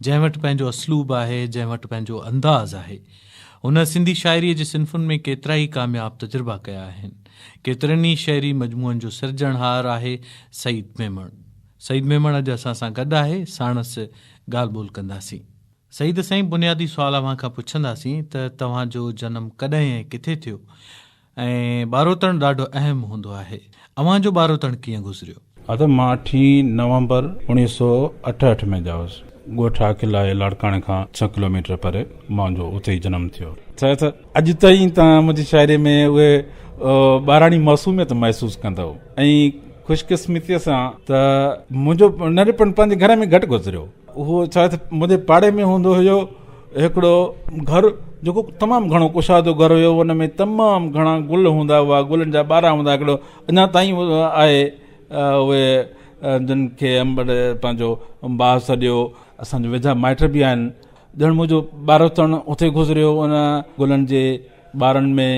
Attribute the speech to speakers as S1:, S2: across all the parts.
S1: جنهن وٽ پنهنجو اسلوب آهي، جنهن وٽ پنهنجو انداز آهي. هن سنڌي شاعريء جي صنفن ۾ ڪيترائي ڪامياب تجربا ڪيا آهن. ڪيترن ئي شعري مجموعن جو سرجڻهار آهي سعيد ميمڻ. سعيد ميمڻ اڄ اسان سان گڏ آهي، ساڻس ڳالهه ٻولهه ڪنداسين. سعيد سائين بنيادي سوال اوهان کان پڇنداسين ته توهان جو جنم ڪڏهن ۽ ڪٿي ٿيو؟ ۽ ٻاروتڻ ڏاڍو اهم هوندو آهي. اوهان جو ٻاروتڻ ڪيئن گذريو؟ ها ته مان اٺين
S2: نومبر اوڻيهه سؤ اٺهٺ ۾ ڄائوس. ڳوٺ آڪل آهي لاڙڪاڻي کان ڇهه ڪلوميٽر پري. منهنجو اتي ئي جنم ٿيو. ڇا ته اڄ تائين توهان منهنجي شاعري ۾ اهي ٻاراڻي معصوميت محسوس ڪندؤ ۽ خوشقسمتيء سان ته منهنجو ننڍپڻ پنهنجي گهر ۾ گهٽ گذريو. اهو شايد منهنجي پاڙي ۾ هوندو هيو هڪڙو گهر جيڪو تمام گهڻو ڪشادو گهر هيو ان ۾ تمام گهڻا گل هوندا هئا گلن جا ٻارا هوندا هڪڙو اڃا تائين آهي اهي جن کي پنهنجو باغ سڏيو اسان جا ويجها مائٽ به آهن ڄڻ منهنجو ٻارپڻ اتي گذريو ان گلن جي ٻارن ۾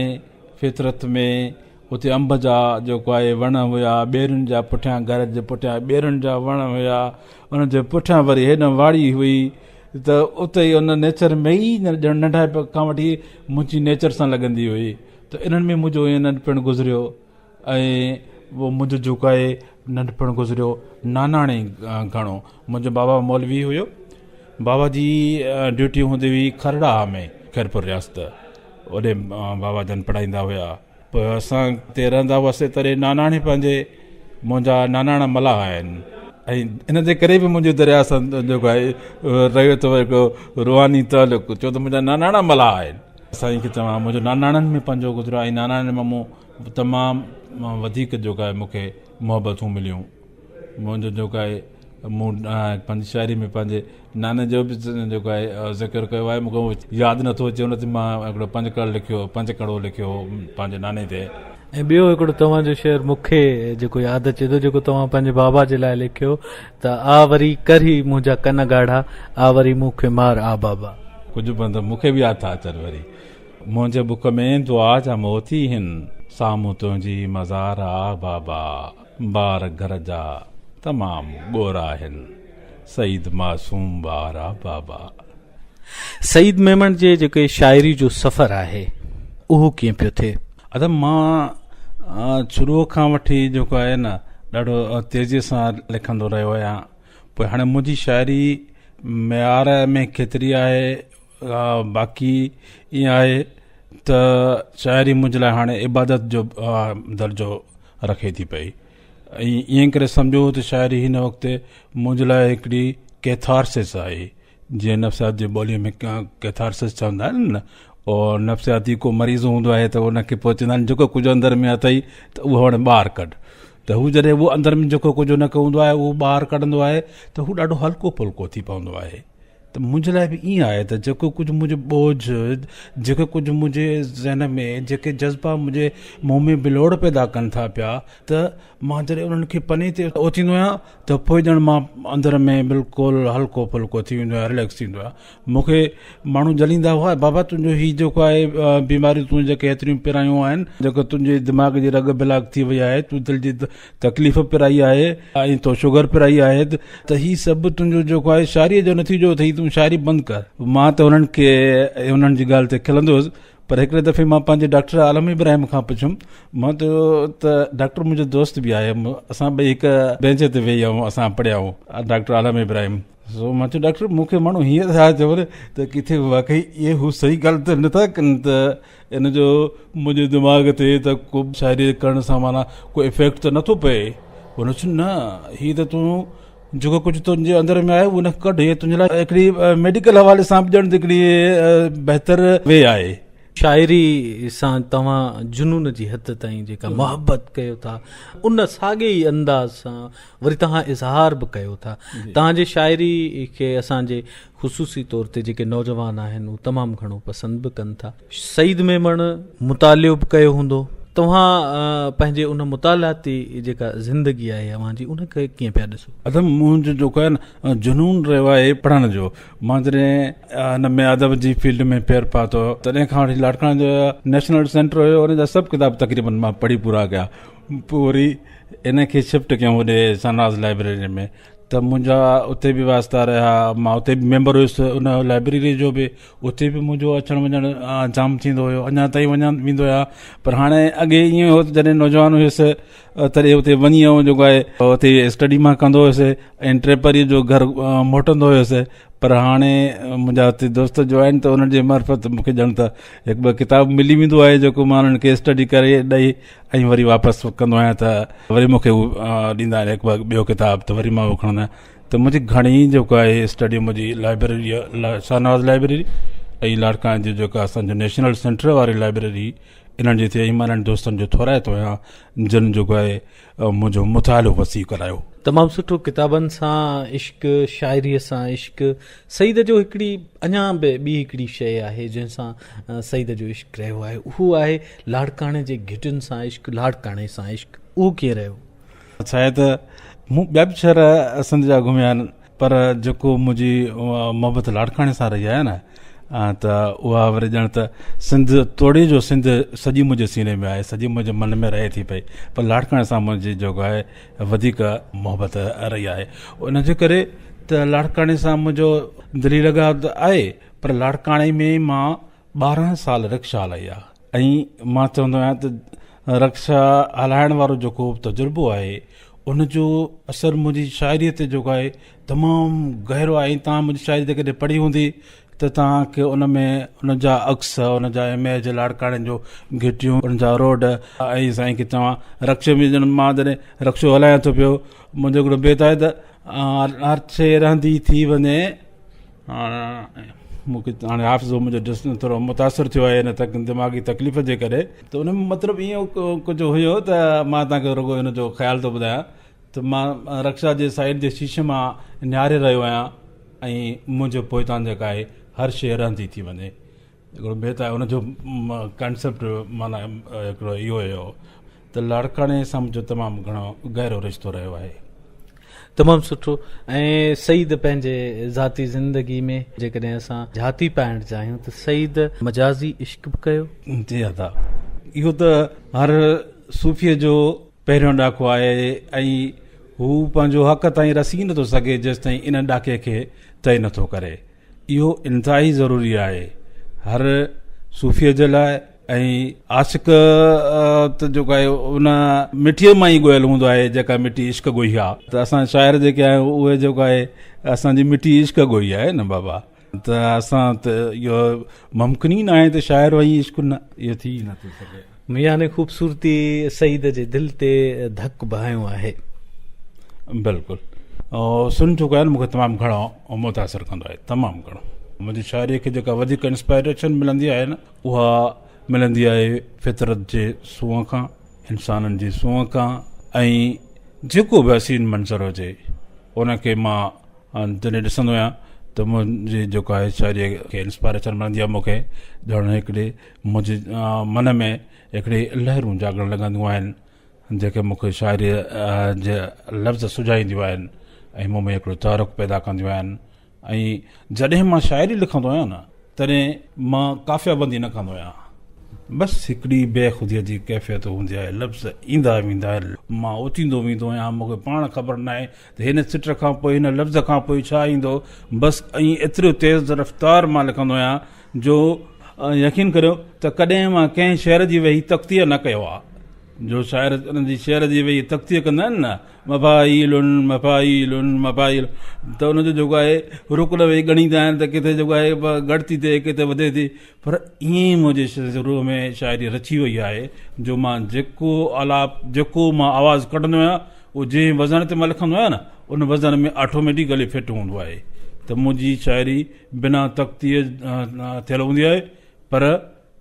S2: فطرت ۾ اتي انب جا جيڪو آهي وڻ هيا، ٻيرين جا پٺيان گهر جي پٺيان ٻيرين جا وڻ هيا، انهن جي پٺيان وري هيڏانهن واڙي هئي ته اتي ئي ان نيچر ۾ ئي ڄڻ ننڍائپ کان وٺي منهنجي نيچر سان لڳندي هئي ته انهن ۾ منهنجو ائين ننڍپڻ گذريو ۽ منهنجو جيڪو آهي ننڍپڻ گذريو ناناڻي گهڻو منهنجو بابا مولوي هيو بابا جي ڊيوٽي هوندي هئي کرڙاهه ۾ خيرپور رياست اوڏي بابا جن پڙهائيندا هيا. پوء اسان اتي رهندا هئاسين ته اڙي ناناڻي پنهنجي منهنجا ناناڻا ملاح آهن ۽ ان جي ڪري به منهنجو درياء سان جيڪو آهي رهيو ٿو هڪ روحاني تعلق ڇو ته منهنجا ناناڻا ملاح آهن. سائين کي چوان منهنجو ناناڻن ۾ پنهنجو گذريو آهي ۽ ناناڻن مان مون تمام وڌيڪ جيڪو آهي مون کي محبتون مليون. منهنجو جيڪو آهي مون پنهنجي شاعري ۾ پنهنجي ناني جو به جيڪو آهي ذڪر ڪيو آهي مون کي اهو ياد نٿو اچي ان تي مان هڪڙو پنج ڪڙ لکيو هو پنج ڪڙو لکيو هو پنهنجي ناني تي ۽ ٻيو هڪڙو
S1: توهان جو شعر مون کي جيڪو ياد اچي ٿو جيڪو توهان پنهنجي بابا جي لاء لکيو ته آ وري ڪر هي منهنجا ڪن ڳاڙها آ وري مون کي مار آ بابا. ڪجهه بند مون
S2: کي به ياد ٿا اچن وري منهنجي بک ۾ دعا جا موتي هن سامهون تنهنجي مزار آ بابا. بار گهر جا تمام ڳورا آهن. سعيد معصوم وارا بابا.
S1: سعيد ميمڻ جي جيڪي شاعري جو سفر آهي اهو ڪيئن پيو ٿئي؟ ادم مان
S2: شروع کان وٺي جيڪو آهي نه ڏاڍو تيزي سان لکندو رهيو آهيان پوء هاڻي منهنجي شاعري معيار ۾ ڪيتري آهي باقي ايئن آهي ته شاعري منهنجي لاء هاڻي عبادت جو درجو رکي ٿي پئي ۽ ائين ڪري سمجهو ته شاعري هن وقت منهنجي لاء هڪڙي ڪيٿارسس آهي جنهن نفسيات جي ٻوليء ۾ ڪيٿارسس چوندا آهن نه او نفسياتي ڪو مريض هوندو آهي ته ان کي پوء چوندا آهن جيڪو ڪجهه اندر ۾ اٿئي ته اهو هاڻي ٻاهر ڪڍ ته هو جڏهن اهو اندر ۾ جيڪو ڪجهه ان کي هوندو آهي اهو ٻاهر ڪڍندو آهي ته هو ڏاڍو هلڪو ڦلڪو ٿي پوندو آهي ته منهنجي لاء به ائين آهي ته جيڪو ڪجهه منهنجو ٻوجهه، جيڪو ڪجهه منهنجي ذهن ۾ جيڪي جذبا منهنجي منهن ۾ بلوڙ پيدا ڪن ٿا پيا ته مان جڏهن انهن کي پني تي اوتيندو آهيان ته پوء ڄڻ مان اندر ۾ بلڪل هلڪو ڦلڪو ٿي ويندو آهيان رليڪس ٿيندو آهيان مون کي ماڻهو جليندا هئا بابا تنهنجو هي جيڪو آهي بيماريون تون جيڪي هيتريون پرايون آهن جيڪو تنهنجي دماغ جي رڳ بلاڪ ٿي وئي آهي تون دل جي تڪليف پرائي آهي ۽ تو شگر پرائي آهي ته هي سڀ تنهنجو جيڪو آهي شاعريء جو نتيجو اٿئي تون شاعري بند ڪر مان ته هنن کي انهن جي ڳالهه تي کلندو هيس پر هڪڙي دفعي مان پنهنجي ڊاڪٽر عالم ابراهيم کان پڇيم مان چيو ته ڊاڪٽر منهنجو دوست به آهي اسان ٻئي هڪ بينچ تي ويهي آهيون اسان پڙهيا آهيون ڊاڪٽر عالم ابراهيم سو مان چيو ڊاڪٽر مون کي ماڻهو هيئن ٿا چون ته ڪٿي واقعي اهي هو صحيح ڳالهه ته نٿا ڪن ته ان جو منهنجي دماغ تي ته ڪو شاعري ڪرڻ سان معنيٰ ڪو افيڪٽ ته نٿو پئي. هن چيو نه هي ته تون جيڪو ڪجهه تنهنجي اندر ۾ آهي ان کي ڪڍ هي تنهنجي لاء هڪڙي ميڊيڪل حوالي سان به ڄڻ ته هڪڙي بهتر وي آهي. شاعري
S1: سان توهان جنون جي حد تائين جيڪا محبت ڪيو ٿا ان ساڳئي ئي انداز سان وري توهان اظهار به ڪيو ٿا. توهان جي شاعري کي اسان جي خصوصي طور تي جيڪي نوجوان آهن هو تمام گهڻو پسند به ڪن ٿا. سعيد ميمڻ مطالعو به ڪيو هوندو. توهان پنهنجي ان مطالعاتي جيڪا زندگي آهي اوهان جي ان کي ڪيئن پيا ڏسو؟ ادم منهنجو جيڪو
S2: آهي نه جنون رهيو آهي پڙهڻ جو. مان جڏهن ان ۾ ادب جي فيلڊ ۾ پير پاتو تڏهن کان وٺي لاڙڪاڻي جو نيشنل سينٽر هيو ان جا سڀ ڪتاب تقريبن مان پڙهي پورا ڪيا. پوء وري ان کي شفٽ ڪيون هوڏي شهنواز لائبريري ۾. ته منهنجا اتي به واسطا رهيا مان اتي به ميمبر هيس ان لائبريري جو به اتي به منهنجو اچڻ وڃڻ جام ٿيندو هيو اڃا تائين وڃا ويندو آهيان پر هاڻي اڳي ائين هيو ته جڏهن نوجوان هيس تڏهن اتي وڃي ائين جيڪو آهي اتي اسٽڊي مان ڪندو هيس ۽ ٽي پري جو گهر موٽندو هيس پر هاڻي منهنجا اتي دوست جو آهن ته انهن جي معرفت مون کي ڄڻ ته هڪ ٻه ڪتاب ملي ويندو آهي جيڪو مان انهن کي اسٽڊي ڪري ڏئي ۽ وري واپس ڪندو آهيان ته وري مون کي هو ڏيندا آهن هڪ ٻه ٻيو ڪتاب ته وري مان هو کڻندو آهيان ته منهنجي گهڻي جيڪو آهي اسٽڊي منهنجي لائبريري جي شاهنواز لائبريري ۽ لاڙڪاڻي جي جيڪا اسانجو نيشنل سينٽر واري لائبريري انهن جي ٿئي مان انهن دوستن جو ٿورائتو آهيان جن جيڪو آهي منهنجو مطالعو وسيع ڪرايو تمام سٺو ڪتابن
S1: سان عشق شاعري سان عشق سيد جو هڪڙي اڃا به ٻي هڪڙي شيء آهي جنهن سان سيد جو عشق رهيو آهي اهو آهي لاڙڪاڻي جي گهٽين سان عشق لاڙڪاڻي سان عشق اهو ڪيئن رهيو؟ سيد،
S2: مون ٻيا به شهر سنڌ جا گهميا آهن پر جيڪو منهنجي محبت لاڙڪاڻي سان رهي آهي نه ته اها وري ڄڻ ته سنڌ توڙي جو سنڌ سڄي منهنجي سيني ۾ آهي سڄي منهنجي من ۾ رهي ٿي پئي پر لاڙڪاڻي سان منهنجي جيڪو آهي وڌيڪ محبت رهي آهي ان جي ڪري ته لاڙڪاڻي سان منهنجو دلي لڳاء ته آهي پر لاڙڪاڻي ۾ مان ٻارهن سال رڪشا هلائي آهي ۽ مان چوندو آهيان ته رڪشا هلائڻ وارو جيڪو تجربو آهي ان جو اثر منهنجي شاعري تي جيڪو آهي تمام گهرو آهي ۽ تمام شاعري جيڪڏهن پڙهي هوندي ته توهان کي ان ۾ ان جا عڪس، ان جا اميج، لاڙڪاڻي جون گهٽيون، ان جا روڊ ۽ سائين کي چوان رڪشي ۾ ڄڻ مان جڏهن رڪشو هلايان ٿو پيو، منهنجو هڪڙو بيت آهي ته. هر شيء رهندي ٿي وڃي. مون کي هاڻي حافظو منهنجو ڊس ٿورو متاثر ٿيو آهي ان دماغي تڪليف جي ڪري. ته ان ۾ مطلب ائين ڪجهه هيو ته مان توهان کي رڳو ان جو خيال ٿو ٻڌايان. ته مان رڪشا جي سائيڊ جي شيشي مان نهاري رهيو آهيان ۽ منهنجي پوئتان جيڪا آهي هر شيء رهندي ٿي وڃي هڪڙو بيت آهي ان جو ڪانسيپٽ معنيٰ هڪڙو اهو هيو ته لاڙڪاڻي سان منهنجو تمام گهڻو گهرو رشتو رهيو آهي. تمام
S1: سٺو ۽ سعيد پنهنجي ذاتي زندگي ۾ جيڪڏهن اسان جهاتي پائڻ چاهيون ته سعيد مجازي عشق به ڪيو. جي ادا
S2: اهو ته هر صوفي جو. پهريون ڏاڪو آهي ۽ هو پنهنجو حق تائين رسي نٿو سگهي جيستائين ان ڏاڪي کي طئي نٿو ڪري. اهو انتهائي ضروري آهي هر صوفيء جي لاء ۽ عاشق ته جيڪو آهي ان مٺيء مان ئي ڳوهيل هوندو آهي جيڪا مٺي عشق ڳوهي آهي ته اسان شاعر جيڪي آهيون اهي جيڪو آهي اسان جي مٺي عشق ڳوهي آهي نه بابا. ته اسان ته اهو ممڪن ئي ناهي ته شاعر وئي عشق نه اهو ٿي نه ٿو سگهي ميان ۾ خوبصورتي
S1: سعيد جي دل تي ڌڪ بهايو آهي
S2: بلڪل سن جو ڳائل مونکي تمام گهڻو متاثر ڪندو آهي تمام گهڻو منهنجي شاعري کي جيڪا وڌيڪ انسپائريشن ملندي آهي نه اها ملندي آهي فطرت جي سونهن کان انسانن جي سونهن کان ۽ جيڪو به حسين منظر هجي ان کي مان آن جڏهن ڏسندو آهيان ته منهنجي جيڪو آهي شاعري کي انسپائريشن ملندي آهي مونکي ڄڻ هڪڙي منهنجي من ۾ هڪڙي لهرون جاڳڻ لڳنديون آهن جيڪي مونکي شاعري جي لفظ سجائينديون آهن ۽ مون ۾ هڪڙو تحرڪ پيدا ڪنديون آهن ۽ جڏهن مان شاعري لکندو آهيان نه تڏهن مان قافيه بندي نه ڪندو آهيان بس هڪڙي بي خوديء جي ڪيفيت هوندي آهي لفظ ايندا ويندا آهن مان اوچيندو ويندو آهيان مونکي پاڻ خبر ناهي ته هن سٽ کان پوء هن لفظ کان پوء ڇا ايندو؟ بس ائين ايتريو تيز رفتار مان لکندو آهيان جو. يقين ڪريو ته ڪڏهن مان ڪنهن شعر جي ويهي تقطيع نه ڪيو آهي. جو شاعر انهن جي شعر جي ويهي تقطيع ڪندا آهن نه، مفاعيل مفاعيل مفاعيل، ته ان جو جيڪو آهي رڪ لوي ڳڻيندا آهن ته ڪٿي جيڪو آهي ڳڻتي ٿئي ڪٿي وڌي ٿي. پر ائين ئي منهنجي روح ۾ شاعري رچي وئي آهي جو مان جيڪو آلاپ، جيڪو مان آواز ڪڍندو آهيان، اهو جنهن وزن تي مان لکندو آهيان نه، ان وزن ۾ آٽوميٽڪ گلي فٽ هوندو آهي ته منهنجي شاعري بنا تختيء ٿيل هوندي آهي، پر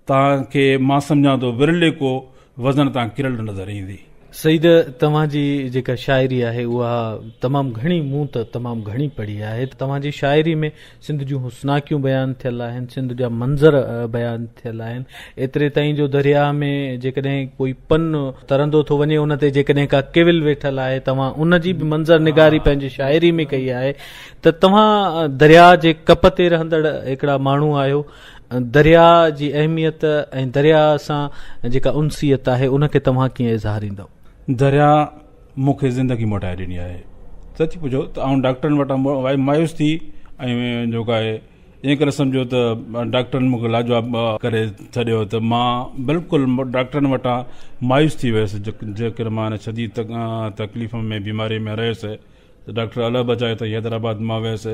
S2: توهان کي مان سمجهان ٿو ورلي ڪو وزن تان ڪرل نظر ايندي. سيد
S1: توهان جي جيڪا شاعري آهي اها تمام گهڻي مون ته تمام گهڻي پڙهي آهي توهان جي شاعري ۾ سنڌ جون حسناڪيون بيان ٿيل آهن سنڌ جا منظر بيان ٿيل آهن ايتري تائين جو درياهه ۾ جيڪڏهن ڪوئي پن ترندو ٿو وڃي ان تي جيڪڏهن ڪا ڪيول ويٺل آهي توهان ان جي به منظر نگاري پنهنجي شاعري ۾ ڪئي آهي ته توهان درياهه جي ڪپ تي رهندڙ هڪڙا ماڻهو آهيو درياء جي اهميت ۽ درياء سان جيڪا انسيت آهي ان کي توهان ڪيئن اظهاريندؤ؟ درياء
S2: مون کي زندگي موٽائي ڏني آهي. سچ پڇو ته آئون ڊاڪٽرن وٽان وائي مايوس ٿي ۽ جيڪو آهي ائين ڪري سمجهو ته ڊاڪٽرن مون کي لاجواب ڪري ڇڏيو ته مان بلڪل ڊاڪٽرن وٽان مايوس ٿي ويس جيڪڏهن مان شديد تڪليف ۾ بيماري ۾ رهيس ته ڊاڪٽر الله بچايو ته حيدرآباد مان ويس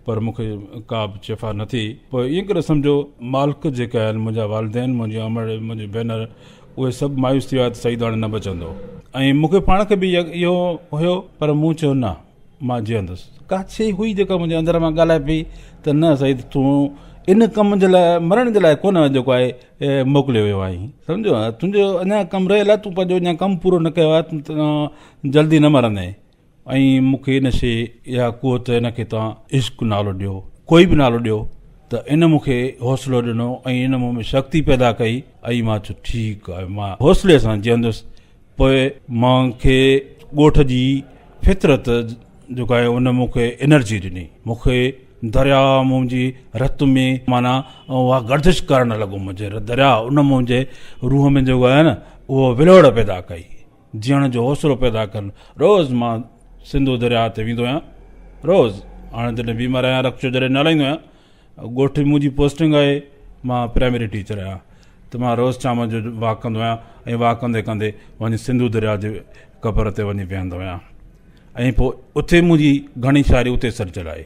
S2: پر مون کي ڪا به شفا نه ٿي. پوء ائين ڪري سمجهو مالڪ جيڪي آهن منهنجا والدين، منهنجي امڙ، منهنجي ڀينر اهي سڀ مايوس ٿي ويا ته سعيد هاڻي نه بچندو ۽ مون کي پاڻ کي به اهو هيو پر مون چيو نه مان جيئندس. ڪا شيء هئي جيڪا منهنجي اندر مان ڳالهائي پئي ته نه سعيد تون ان ڪم جي لاء مرڻ جي لاء ڪونه جيڪو آهي موڪليو ويو آهين سمجهيو تنهنجو اڃا ڪم رهيل آهي تون پنهنجو اڃا ڪم پورو نه ڪيو آهي تون جلدي نه مرندين. ۽ مون کي ان شيء يا قوت ان کي توهان عشق نالو ڏيو ڪوئي به نالو ڏيو ته ان مون کي حوصلو ڏنو ۽ ان مون ۾ شڪتي پيدا ڪئي ۽ مان چيو ٺيڪ آهي مان حوصلي سان جيئندس پوء مان کي ڳوٺ جي فطرت جو ڪاهي ان مون کي انرجي ڏني مون کي دريا منهنجي رت ۾ معنيٰ اها گردش ڪرڻ لڳو منهنجي دريا ان منهنجي روح ۾ جو ڪاهي نه اهو ولوڙ پيدا ڪئي جيئڻ جو حوصلو پيدا ڪرڻ روز مان سنڌو درياهه تي ويندو آهيان روز هاڻي جڏهن بيمار آهيان رڪشو جڏهن نه هلائيندو آهيان ڳوٺ ۾ منهنجي پوسٽنگ آهي مان پرائمري ٽيچر آهيان ته مان روز شام جو واڪ ڪندو آهيان ۽ واڪ ڪندي ڪندي وڃي سنڌو درياهه جي قبر تي وڃي ويهندو آهيان ۽ پوء اتي منهنجي گهڻي شاعري اتي سرجل آهي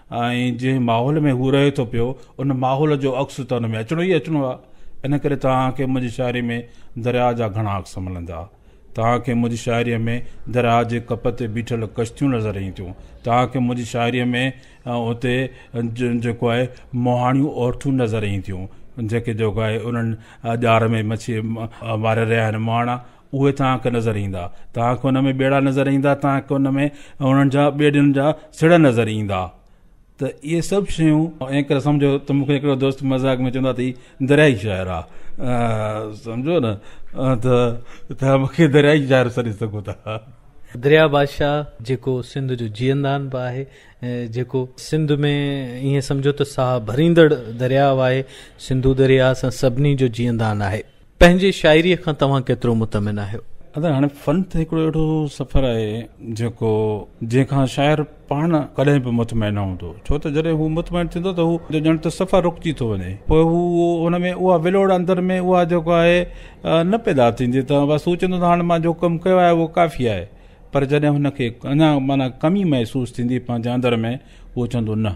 S2: ۽ جنهن ماحول ۾ هو رهي ٿو پيو، ان ماحول جو عڪس ته ان ۾ اچڻو ئي اچڻو آهي. ان ڪري توهان کي منهنجي شاعريء ۾ درياء جا گهڻا عڪس ملندا. توهان کي منهنجي شاعريء ۾ درياء جي ڪپ تي بيٺل ڪشتيون نظر اينديون. توهان کي منهنجي شاعريء ۾ اتي جيڪو آهي مهاڻيون عورتون نظر اينديون، جيڪي جيڪو آهي انهن ڄار ۾ مڇي ماري رهيا آهن مهاڻا. اهي توهان کي نظر ايندا. توهان کي ان ۾ ٻيڙا نظر ايندا، توهان کي ان ۾ انهن جا ٻيڙين جا سڙهه نظر ايندا. ته اهي سڀ شيون ائين ڪري سمجهو ته مون کي هڪڙو دوست مذاق ۾ چوندو آهي ته هي درياهي شاعر آ. سمجهيو نه. ته توهان مون کي درياهي شاعر سڏي سگهو ٿا. درياهه
S1: بادشاهه جيڪو سنڌ جو جيئندان به آهي. جيڪو سنڌ ۾ ائين سمجهو ته ساهه ڀريندڙ درياهه آهي. سنڌو درياهه اسان سڀني جو جيئندان آهي. پنهنجي شاعريء کان توهان ڪيترو مطمئن آهيو؟ ادا هاڻي فن ته
S2: هڪڙو اهڙو سفر آهي جيڪو جنهن کان شاعر پاڻ ڪڏهن به مطمئن نه هوندو ڇو ته جڏهن هو مطمئن ٿيندو ته هو ڄڻ ته سفر رڪجي ٿو وڃي پوء هو ان ۾ اها ولوڙ اندر ۾ اها جيڪو آهي نه پيدا ٿيندي ته بس هو چوندو ته هاڻي مان جو ڪم ڪيو آهي اهو ڪافي آهي پر جڏهن هن کي اڃا معنيٰ ڪمي محسوس ٿيندي پنهنجي اندر ۾ اهو چوندو نه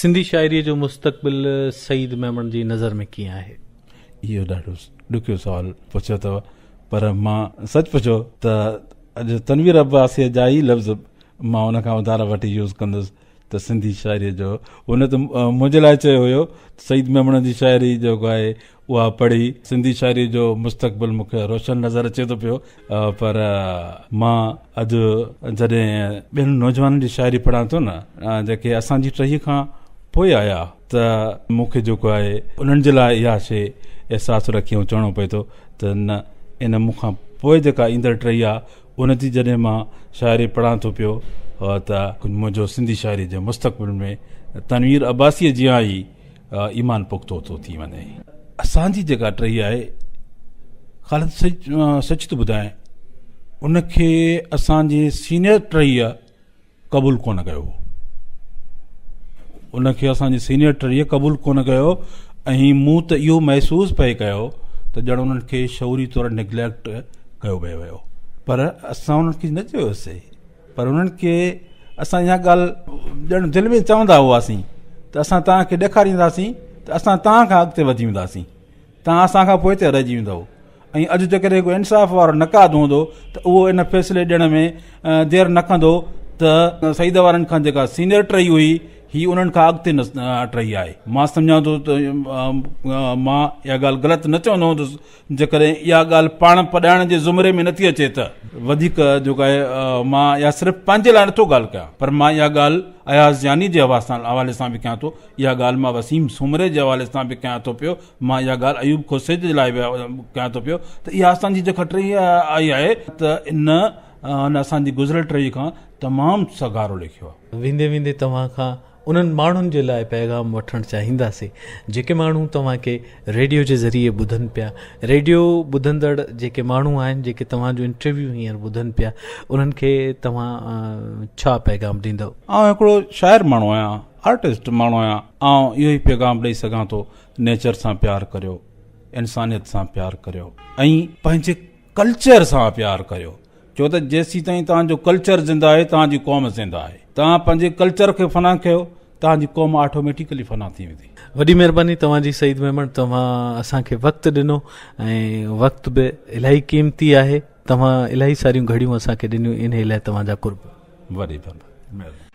S2: سنڌي شاعريء جو
S1: مستقبل سعيد ميمڻ جي نظر ۾ ڪيئن آهي؟ اهو ڏاڍو
S2: ڏکيو سوال پڇيو اٿو پر مان سچ پڇو ته اڄ تنوير عباسيء جا ئي لفظ مان ان کان اڌارا وٺي يوز ڪندس ته سنڌي شاعريء جو هن ته منهنجي لاء چيو هيو ته سعيد ميمڻ جي شاعري جيڪو آهي اها پڙهي سنڌي شاعري جو مستقبل مون کي روشن نظر اچي ٿو پيو پر مان اڄ جڏهن ٻين نوجوانن جي شاعري پڙهان ٿو نه جيڪي اسان جي ٽهي کان پوء آيا ته مون کي جيڪو آهي انهن جي لاء اها شي احساس رکي ۽ چوڻو پئي ٿو ته نه ان مون کان پوء جيڪا ايندڙ ٽهي آ ان جي جڏهن مان شاعري پڙهان ٿو پيو ته منهنجو سنڌي شاعري جي مستقبل ۾ تنوير عباسيء جيان ئي ايمان پختو ٿو ٿي وڃي. اسان جي جيڪا ٽهي آهي خالد سچ ٿو ٻڌايان ان کي اسان جي سينيئر ٽهيء قبول ڪونه ڪيو هو ان کي اسان جي سينيئر ٽهيء قبول ڪونه ڪيو ۽ مون ته اهو محسوس پئي ڪيو ته ڄڻ انهن کي شعوري طور نيگليڪٽ ڪيو پئي ويو پر اسان انهن کي نه چيوسي پر انهن کي اسان اها ڳالهه ڄڻ دل ۾ چوندا هئاسين ته اسان توهان کي ڏيکارينداسين ته اسان توهان کان اڳتي وڌي وينداسين توهان اسان کان پوئتي رهجي ويندو ۽ اڄ جيڪڏهن ڪو انصاف وارو نقاد هوندو ته اهو ان فيصلي ڏيڻ ۾ دير نه ڪندو ته سعيد وارن کان جيڪا سينيئر ٽري هئي هي انهن کان اڳتي ٽري آهي مان سمجهان ٿو ته مان اها ڳالهه غلط نه چوندو هوندس جيڪڏهن اها ڳالهه پاڻ پڏائڻ جي زمري ۾ نٿي اچي ته وڌيڪ جيڪو آهي مان اها صرف پنهنجي لاء نٿو ڳالهه ڪيان پر مان اها ڳالهه اياز جاني جي حوالي سان به ڪيان ٿو اها ڳالهه مان وسيم سومري جي حوالي سان به ڪيان ٿو پيو مان اها ڳالهه ايوب کوسيجي جي لاء به ڪيان ٿو پيو ته اها اسان جي جيڪا ٽهي آئي آهي ته ان هن اسان جي گذريل ٽهي کان تمام سگهارو لکيو آهي. ويندي ويندي توهان
S1: کان انهن ماڻهن جي لاء پيغام وٺڻ چاهينداسين جيڪي ماڻهو توهان کي ريڊيو جي ذريعي ٻڌن پيا ريڊيو ٻڌندڙ جيڪي ماڻهو آهن جيڪي توهان جو انٽرويو هينئر ٻڌن پيا انهن کي توهان ڇا پيغام ڏيندؤ. آئون هڪڙو شاعر
S2: ماڻهو آهيان آرٽسٽ ماڻهو آهيان آئون اهو ئي پيغام ڏئي سگهان ٿو نيچر سان پيار ڪريو انسانيت سان پيار ڪريو ۽ پنهنجي ڪلچر سان پيار ڪريو ڇو ته جيسيتائين توهان جو ڪلچر زنده آهي توهان جي قوم زنده آهي توهان پنهنجي ڪلچر کي فنا ڪيو توهان جي قوم آٽوميٽيڪلي فنا ٿي ويندي. وڏي مھرباني توھان
S1: جي سعيد ميمڻ توھان اسان کي وقت ڏنو ۽ وقت به الاھي قيمتي آھي توھان الاھي ساريون گھڙيون اسان کي ڏنيون انھي لاء توھان جا قرب. وڏي مھرباني.